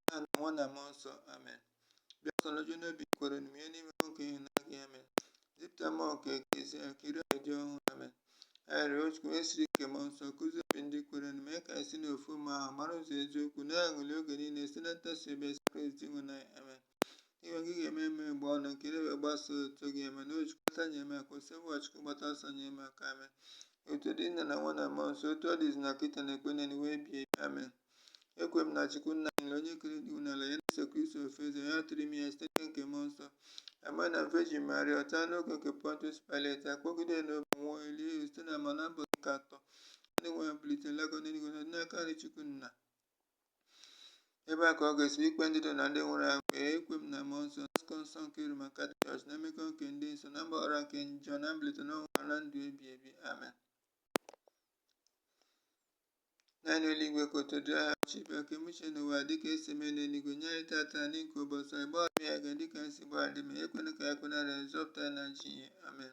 nna na nwa na mmụọ nsọ amen bịa mmụọ nsọ nojuo n'obi ndị kwerenụ munye n'ime ha ọkụ ịhụnanya gị amen zipụta mmụọ nke e kezie akiri dị ọhụrụ amen arịrịọ o chukwu onye siri n'ike mmụọ nsọ kuzie obi ndị kwerenụ mee ka anyị si n'ofu mmụọ ahụ mara ụzọ eziokwu na-aṅụli oge niile si na ntasi obi si na kristi dinwenụ anyị amen ihe gị ga-eme meghee ọnụ m ka ire m wee gbasaa otito gị amen o chukwu gbata nyere m aka osebụrụwa chukwu gbata ọsọ nyere m aka amen otito dịrị nna na nwa na mmụọ nsọ otu ọ dị izizi na kịta na ọkpụ na ụwa ebi ebi amen ekwe m na chukwu nna ji ike niile onye kere eluigwe na ala na jesu kristi ofu nwa ya atụrụ ime ya site n'ike nke mmụọ nsọ amụa na veji maria ọ ta n'oge nke pontus pilet akpọgide n'obe nwụọ elie ya zida n'ala mmụọ na mbọsị nke atọ ndị nwụrụ anwụ bilite lago n'eluigwe n'aka nri chukwu nna ebe a ka ọ ga-esi bịa ikpe ndị dị ndụ na ndị nwụrụ anwụ ee ekwe m na mmụọ nsọ nzukọ nsọ nke roman catholic church na mmekọ nke ndị nsọ na mgbaghara nke njọ na mbilite n'ọnwụ na na ndụ ebi ebi amen nna anyị nọ n'eluigwe ka otito dịrị aha gị ọchịchị gị bịa ka e mee uche gị n'ụwa dịka esi eme n'eluigwe nye anyị tata nri nke ụbọchị anyị gbaghara anyị mmehie anyị dịka anyị si gbaghara ndị mehiere anyị ekwena ka anyị kwe na nranye zọpụta anyị n'ajọ ihe amen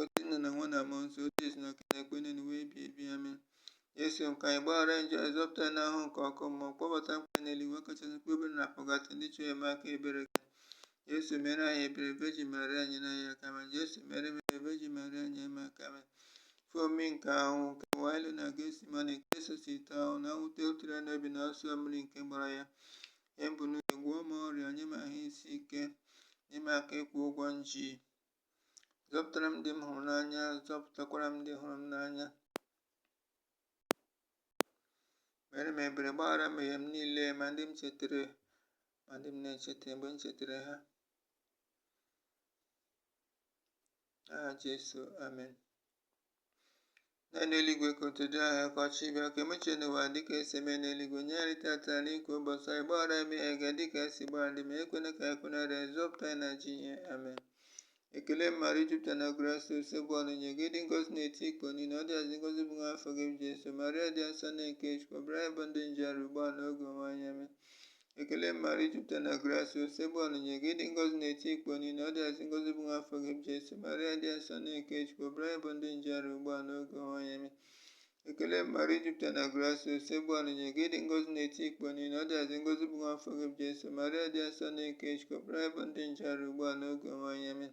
otito nna na nwa na mmụọ nsọ otu ọ dị izizi na kịta na ọkpụ na ụwa ebi ebi amen Jesu nke anyị gbaghara njọ anyị zọpụta anyị n'ahụhụ nke ọkụ mmụọ kpọbata mkpụrụ obi n'eluigwe kachasị mkpụrụ obi dị na pọgatọrị ndị chọrọ enyemaka ebere gị Jesu mere anyị ebere veji Maria nyere anyị aka amen Jesu mere m ebere veji Maria nyere m aka amen ife omimi nke ahụhụ nke wailu na gesimani nke sosite ahụ na mwute wutere n'obi na ọsọ mmiri nke gbara ya Nye m bụnụ ya, gwọọ m ọrịa, nye m ahụ isi ike, nye m aka ịkwụ ụgwọ m ji. Zọpụtara m ndị m hụrụ n'anya, zọpụtakwara m ndị hụrụ m n'anya. Mere m ebere, gbaghara mmehie m niile, ma ndị m chetara, ma ndị m na-echeta mgbe m chetara ha. N'aha Jesu, amen. nna anyị nọ n'eluigwe ka otuto dịrị aha gị ka ọchịchị gị bịa ka e mee uche gị n'ụwa dịka esi eme n'eluigwe nye anyị tata nri nke ụbọchị anyị gbaghara anyị mmehie anyị dịka anyị si gbaghara ndị mehiere anyị ekwena ka anyị kwe na nranye zọpụta anyị n'ajọ ihe amen ekele maria i jupụtara na grasịa osebụrụwa nọnyere gị ị dị ngọzi n'etiti ikporo niile ọ dịazị ngọzi bụ nwa afọ gị bụ jesu maria dị asọ nne nke chukwu yọbara anyị bụ ndị njọ arịrịọ ugbu a na oge ọnwụ anyị amen Ekele Maria i jupụtara na grasịa Osebụrụwa nọnyere gị ị dị ngọzi n'etiti ikporo niile ọ dịazị ngọzi bụ nwa afọ gị bụ Jesu Maria dị asọ nne nke Chukwu yọbara anyị bụ ndị njọ arịrịọ ugbu a n'oge ọnwụ anyị amen ekele Maria i jupụtara na grasịa Osebụrụwa nọnyere gị ị dị ngọzi n'etiti ikporo niile ọ dịazị ngọzi bụ nwa afọ gị bụ Jesu Maria dị asọ nne nke Chukwu yọbara anyị bụ ndị njọ arịrịọ ugbu a n'oge ọnwụ anyị amen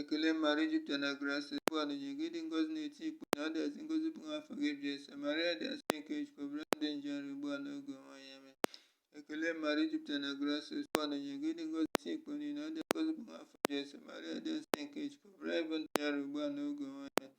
Ekele mara ijupụta na grace bụ ọdịnye gị dị ngozi na-eti ikpe na ọ dị asị ngozi bụ nwa afọ gị jesu maria dị asị nke chukwu bụrụ ndị nje nri ugbu a n'oge onwe ya eme ekele mara ijupụta na grace bụ ọdịnye gị dị ngozi ti ikpe niile ọ dị ngozi bụ nwa afọ jesu maria dị asị nke chukwu bụrụ ịbụ ndị nje nri ugbu a n'oge onwe ya eme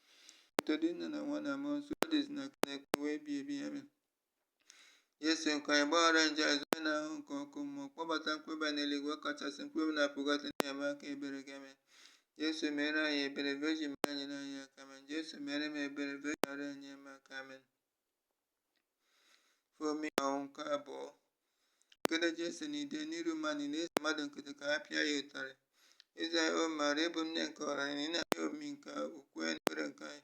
Otito dịrị Nna na nwa na mmụọ nsọ ọ dị izizi na kịta na ụwa ebi ebi Amen. Jesu nke anyị gbaghara njọ anyị zọọ anyị n'ahụhụ nke ọkụ mmụọ kpọbata mkpụrụ obi n'eluigwe kachasị mkpụrụ obi na Pọgatọrị na enyemaka ebere gị Amen. Jesu mere anyị ebere Virgin Maria nyere anyị aka Amen Jesu mere m ebere Virgin Maria nyere m aka Amen. ife omimi nke ahụhụ nke abụọ nkedo jesu na ide n'iru mmadụ niile e zie mmadụ nkịtị ka ha pịa ya ụtarị eze anyị o maria ị bụ nne nke ọra anyị na ị na-anya omimi nke ukwe na ekpere nna anyị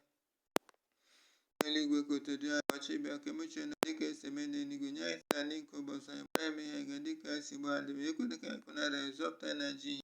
nọ n'eluigwe ka otito dịrị aha gị ka ọchịchị gị bịa ka e mee uche gị n'ụwa dịka esi eme n'eluigwe nye anyị tata nri nke ụbọchị anyị gbaghara anyị mmehie anyị ga dịka anyị si gbaghara ndị mehiere anyị ekwena ka anyị kwenye na nranye zọpụta anyị n'ajọ ihe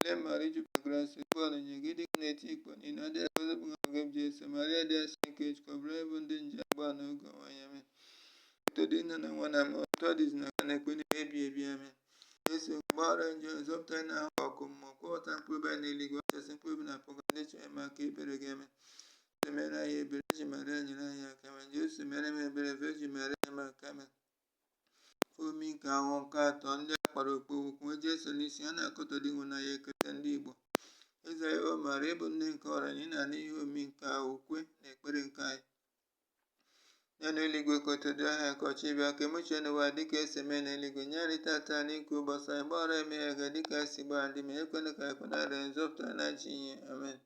Ilé Marie du Père Grâce, Étoile de Nyegidi, Gneti, Ikponi, Nadia, Joseph Ngabgeb, Jesse, Maria Dia Sankech, Kobra, bụ ndị nje agba n'oge onwe ya mee. Eto dị nna na nwa na ma otu ọ dịzi na ka na-ekpe n'ihe ebi ebi ame. Yesu gbaghara njọ zọpụta anyị n'ahụ ọkụ mmụọ kwọpụta mkpụrụ obi anyị n'eluigwe ọchasị mkpụrụ obi na pụga ndị chọrọ ime aka ebere gị eme. Jizọs mere anyị ebere, Virgin Maria nyere anyị aka mee. Jizọs mere m ebere, Virgin Maria nyere m aka mee. Ife omimi nke ahụhụ nke atọ ndị agha kpara okpu ogwu kpunye Jesu n'isi a na-akọtọ Dinwenụ anyị ekete ndị Igbo Eze anyị O Maria ị bụ nne nke ọra anyị na anụ ihe omimi nke ukwe na ekpere nke anyị nna anyị nọ na eluigwe ka otito dịrị aha gị ka ọchịchị gị bịa ka e mee uche gị n'ụwa dịka esi eme na eluigwe nye anyị tata nri nke ụbọchị anyị gbaghara anyị mmehie anyị ga dịka anyị si gbaghara ndị mehiere anyị ekwena ka anyị kwenye na nranye zọpụta anyị n'ajọ ihe amen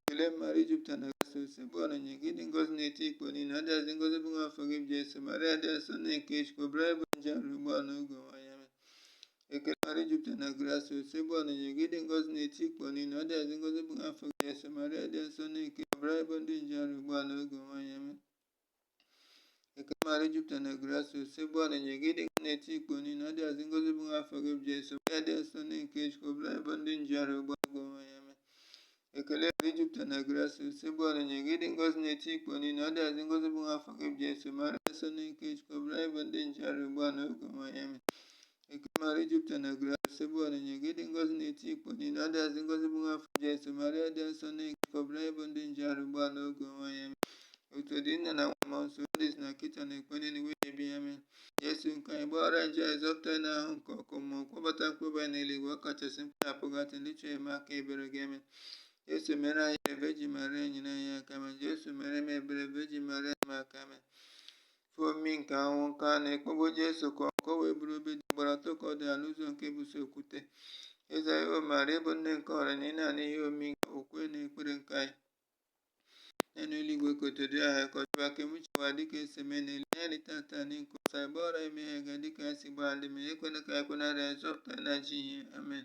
Ekele Maria i jupụtara na grasịa, Oseburuwa nọnyere gị ị dị ngọzi n'etiti ikporo niile, ọ dịazị ngọzi bụ nwa afọ gị bụ Jesu, Maria dị asọ nne nke Chukwu, yọbara anyị bụ ndị njọ arịrịọ ugbu a n'oge ọnwụ anyị Amen. Ekele Maria i jupụtara na grasịa, Oseburuwa nọnyere gị ị dị ngọzi n'etiti ikporo niile, ọ dịazị ngọzi bụ nwa afọ gị Jesu, Maria dị asọ nne nke Chukwu, yọbara anyị bụ ndị njọ arịrịọ ugbu a n'oge ọnwụ anyị Amen. eke mara jupụta na grasi ose bụ ọdịnye gị dịga na-eti ikpo niile adị azị ngozi bụ nwa afọ gị bụ jesu ya dị nsọ ndị nke chukwu bụla ebe ndị njiarụ ụgbọ agụ onwe ya mee ekele mara jupụta na grasi ose bụ ọdịnye gị dị ngozi na-eti ikpo niile adị azị ngozi bụ nwa afọ gị bụ jesu mara nsọ ndị nke chukwu bụla ebe ndị njiarụ ụgbọ na oge onwe ya mee Ekele Maria i jupụtara na grasịa Oseburuwa nọnyere gị ị dị ngọzi n'etiti ikporo niile ọ dịazị ngọzi bụ nwa afọ gị Jesu Maria dị nsọ nne nke Chukwu yọbara anyị bụ ndị njọ arịrịọ ugbu a na oge ọnwụ anyị Amen otito dịrị Nna na Nwa na Mmụọ Nsọ dị izizi na kịta na okpu niile ụwa ebi ebi Amen Jesu nke anyị gbaghara anyị njọ anyị zọpụta anyị n'ahụhụ nke ọkụ mmụọ kpọbata mkpụrụ obi anyị n'eluigwe ọ kachasị mkpụrụ obi na Pọgatọrị ndị chọrọ enyemaka ebere gị Amen Jesu mere anyị ebere Virgin Maria nyere anyị aka Amen Jesu mere m ebere Virgin Maria nyere m aka Amen ife omi nke anwụ nke a na-ekpogbu Jesu ka ọ wee bụrụ obe dị gbara atọ ka ọ dị ala ụzọ nke bụso okwute eze anyị o maara ịbụ nne nke ọra na ị na-ana ihe omi nke okwe na ekpere nke anyị n'elu eluigwe ka otu dị ahụ ka ọchịwa ka emuchiwa dịka esi mee n'elu ya dị tata na nke ụsa ebe ọra emeghe ga dịka anyị si gbaa ndị ma ekwena ka anyị kwenarị anyị zọpụta na ji ihe amen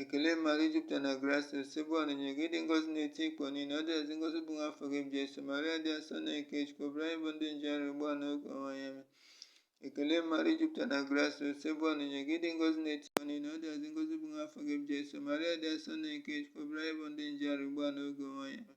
ekele maria i jupụtara na grasịa osebụrụwa nọnyere gị ị dị ngọzi n'etiti ikporo niile ọ dịazị ngọzi bụ nwa afọ gị bụ jesu maria dị asọ nne nke chukwu rịọbara anyị bụ ndị njọ arịrịọ ugbu a n'oge ọnwụ anyị amen ekele maria i jupụtara na grasịa osebụrụwa nọnyere gị ị dị ngọzi n'etiti ikporo niile ọ dịazị ngọzi bụ nwa afọ gị bụ jesu maria dị asọ nne nke chukwu rịọbara anyị bụ ndị njọ arịrịọ ugbu a n'oge ọnwụ anyị amen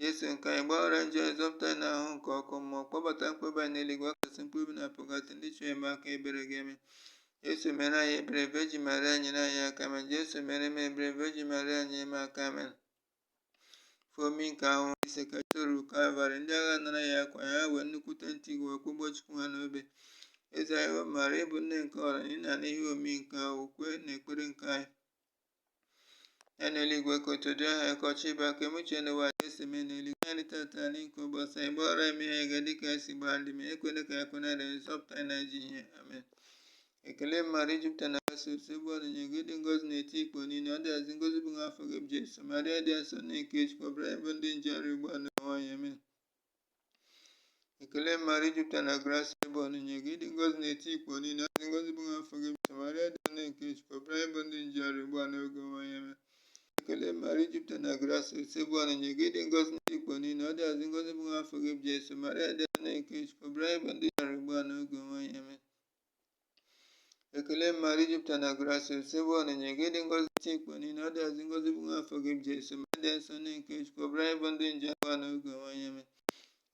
Jesu nke anyị gbaghara njọ anyị zọpụta anyị n'ahụhụ nke ọkụ mmụọ kpọbata mkpụrụ obi anyị n'eluigwe ọkasị mkpụrụ obi na pụgasị ndị chọrọ enyemaka ebere gị amen Jesu mere anyị ebere vejin maria nyere anyị aka amen Jesu mere m ebere vejin maria nyere m aka amen ife omimi nke ahụhụ ise ka o ruru kalvarị ndị agha nara ya akwa ya wee nnukwute ntu wee kpọgbuo chukwu ha n'obe eze nwanyị maria ị bụ nne nke ọra ị na-ana ihe omimi nke ahụhụ kwe na ekpere nke anyị ya na eluigwe ka otu dị aha ka ọchị bịa ka emuche na ụwa esi mee n'eluigwe anyị tata anyị nke ụbọchị anyị gbaghara eme ihe ga dị ka esi gbaa ndị ma ekwena ka ya kwena dị nzọpụta anyị na-eji ihe amen ekele mmadụ ijupụta na asị ụsọ ebe ọ nọnye gị dị ngozi na-eti ikpo niile ọ dịghazi ngozi bụ nwa afọ gị bụ jesu marịa dị asọ na nke chukwu ọbụla ebe ndị nje ọrụ ugbu a na nwaanyị amen ekele maria i jupụtara na grasịa osebụrụwa nọnyere gị ị dị ngọzi n'etiti ikporo niile ọ dị ngọzi bụ nwa afọ gị bụ jesu maria dị nne nke chukwu rịọbara anyị bụ ndị njọ arịrịọ ugbu a n'oge ọnwụ anyị amen ekele maria i jupụtara na grasịa osebụrụwa nọnyere gị ị dị ngọzi n'etiti ikporo niile ọ dịazị ngọzi bụ nwa afọ gị bụ jesu maria dị nne nke chukwu rịọbara anyị bụ ndị njọ arịrịọ ugbu a n'oge ọnwụ anyị amen ekele mara ijupụta na grace osebo ọnịnya gị dị ngozi chi mkpa niile ọ dịazị ngozi bụ afọ gị bụ jesu ma dị nsọ ndị nke chukwu ọbụla anyị bụ ndị nje agwa na oge nwanye me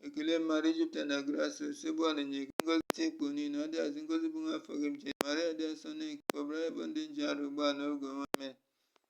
ekele mara ijupụta na grace osebo ọnịnya gị ngozi chi mkpa niile ọ dịazị ngozi bụ afọ gị bụ jesu ma dị nsọ ndị nke ọbụla anyị bụ ndị nje arụ ugbu a na oge nwanye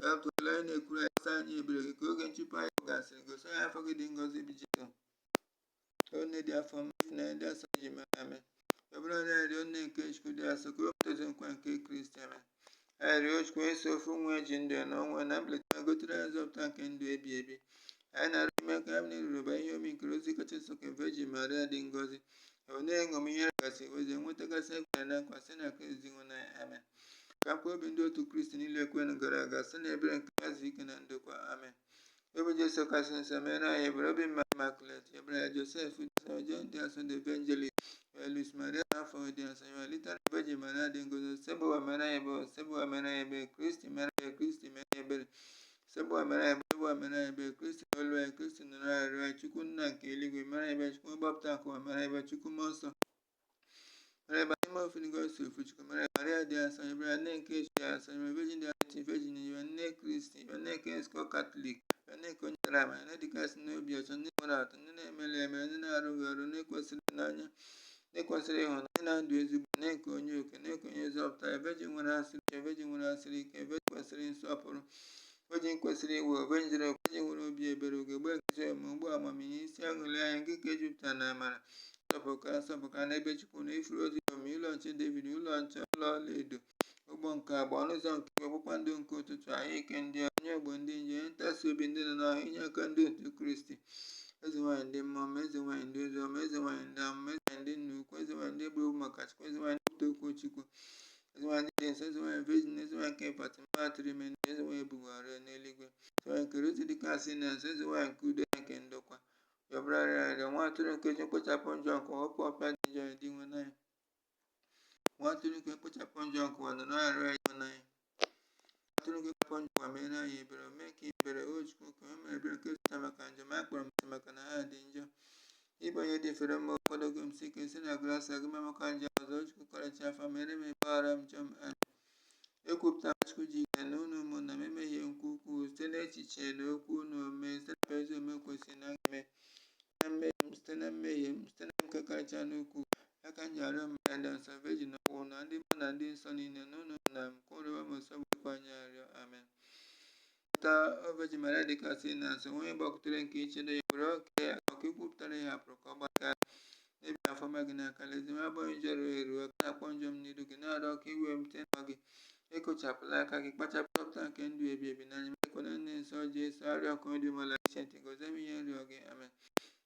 Ka akụ ele onye na-ekwuru anyị si anya ebere gị ka oge nchụpụ anyị gasịrị gosi anyị nwa afọ gị dị ngọzi bụ Jesu o onye dị afọ ọma ịfụnanya dị asọ Vejin Maria amen rịọbara anyị arịrịọ nne nke Chukwu dị asọ ka anyị wee tozi nkwa nke Kristi amen anyị rịọ Chukwu onye sọ ofu nwa ya ji ndụ ya na ọnwụ ya na mbilite ya gotere anyị nzọpụta nke ndụ ebi ebi anyị na-arịọ mee ka anyị na-echeba ihe omimi nke rozari kacha nsọ nke Virgin Maria dị ngọzi wee na-eṅomi ihe gasị ozi enwetagasị e kwere na nkwa site na Kristi Dinwenụ anyị amen ka mkpụrụ obi ndị otu Kristi niile kwerenụ gara aga site na ebere nke ya zuo ike na ndokwa amen obi Jesu kasị nsọ mere anyị ebere obi Maria Immaculate rịọbara anyị Josef Josef John dị asọ the Evangelist Luis Maria Monfọt dị asọ amen litani Virgin Maria dị ngọzi Osebụrụwa mere anyị ebere Osebụrụwa mere anyị ebere Kristi mere anyị ebere Kristi mere anyị ebere Osebụrụwa mere ebere Osebụrụwa mere ebere Kristi nụrụ olu anyị Kristi nụrụ arịrịọ anyị Chukwu nna nke eluigwe mere ebere Chukwu mgbapụta nke ụwa mere ebere Chukwu mmụọ nsọ mere ebere atọ n'ime ofu dị ngọzi ofu Chukwu mere ebere Maria dị asọ rịọbara anyị nne nke Chukwu dị asọ ebe vejin dị asọ vejin ebe nne Kristi ebe nne nke nzukọ katọlik ebe nne nke onye dara ama nne dịkasị n'obi ọcha nne nwere atụ nne na-emerụghị emerụ nne na-arụghị arụ nne kwesịrị ịhụnanya nne kwesịrị ịhụnanya nne ndụ ezigbo nne nke onye oke nne nke onye nzọpụta vejin nwere asịrị ike vejin nwere asịrị ike vejin kwesịrị nsọpụrụ vejin kwesịrị iwe ebe njere vejin nwere obi ebere ugegbe nke ezi omume ukpo amamihe isi aṅụlị anyị nke ka ejupụtara na amara nsọpụrụka nsọpụrụka n'ebe chukwu nọ ifuru dị omimi ụlọ nche david ụlọ nche ụlọ ọlaedo ụgbọ nke agba ọnụ ụzọ nke igwe kpakpando nke ụtụtụ ahụ ike ndị ọrịa onye ogbo ndị njọ onye ntasi obi ndị nọ n'ahụhụ inye aka ndị otu kristi eze nwaanyị ndị mmụọ ọma eze nwaanyị ndị ozi ọma eze nwaanyị ndị amụma eze nwaanyị ndị nna ukwu eze nwaanyị ndị e gburu maka chukwu eze nwaanyị ndị okwu chukwu eze nwaanyị ndị dị nsọ eze nwaanyị virgin eze nwaanyị nke fatima atụrụ ime ndị eze nwaanyị e bugoro n'eluigwe eze nwaanyị nke rozarị dịkasị na nsọ eze nwaanyị nke udo ya nke ndokwa yọbara anyị arịrịọ nwa atụrụ nke chukwu kpochapụ njọ nke ụwa hapụ ịpịa ndị njọ ya dinwenụ anyị Nwa atụrụ nke kpochapụ njọ nke ụwa nụrụ olu anyị. Nwa atụrụ nke kpochapụ njọ ụwa meere anyị ebere, o mee ka ebere o Chukwu ka o mere ebere nke zụta maka njọ m akpọrọ m asị maka na ha dị njọ. Ị bụ onye dị fere mma ekwedogo m sie ike si na grasịa gị emekwa njọ ọzọ Chukwu karịcha afọ ọma meere m ịgbaghara m njọ m ekwupụta Chukwu ji ike niile na unu ụmụnna m emehie m nke ukwuu site n'echiche n'okwu n'omume site na ezi omume kwesị m ime site na mmehie m site na mmehie m site na nke kacha n'ukwu ya ka m ji arịọ Maria dị asọ vejin okpu na ndị mmụọ ọma na ndị nsọ niile na unu ụmụnna m ka unu rịọrọ m Osebụrụwa Chukwu anyị arịrịọ amen Cheta o vejin Maria dịkasị na nsọ onye gbakwutere nke nchedo ya were oke ọka ikwupụtara ị hapụrụ ka ọ gba aka n'ebe afọ ọma gị n'aka ezi nwa agbọghọ njọ ruo eruo ka na-akpọ njọ m n'iru gị na-arịọ ka iwe m site n'ọ gị ekochapụla aka gị kpachapụ dọpụta nke ndụ ebi ebi n'anya m ekwena nne nsọ Jesu arịọ ka ọ dị umeala iche ntị gọzie m ihe m rịọ gị amen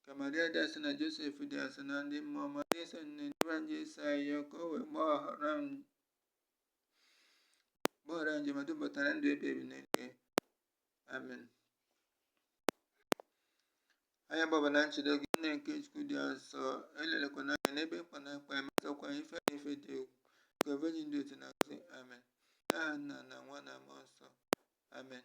ka Maria dị asọ na Josef dị asọ na ndị mmụọ ọma Jesu nne ndị nwa Jesu ayọ ka o wee gbaghara m gbaghara anyị ma dubata na ndụ ebighi ebi n'eluigwe amen anyị agbaba na nchedo gị nne nke chukwu dị nsọ elelikwana anyị n'ebe mkpa na-akpa anyị ma zọkwa ife na ife dị egwu nke virgin dị otito na ngọzi amen n'aha nna na nwa na mmụọ nsọ amen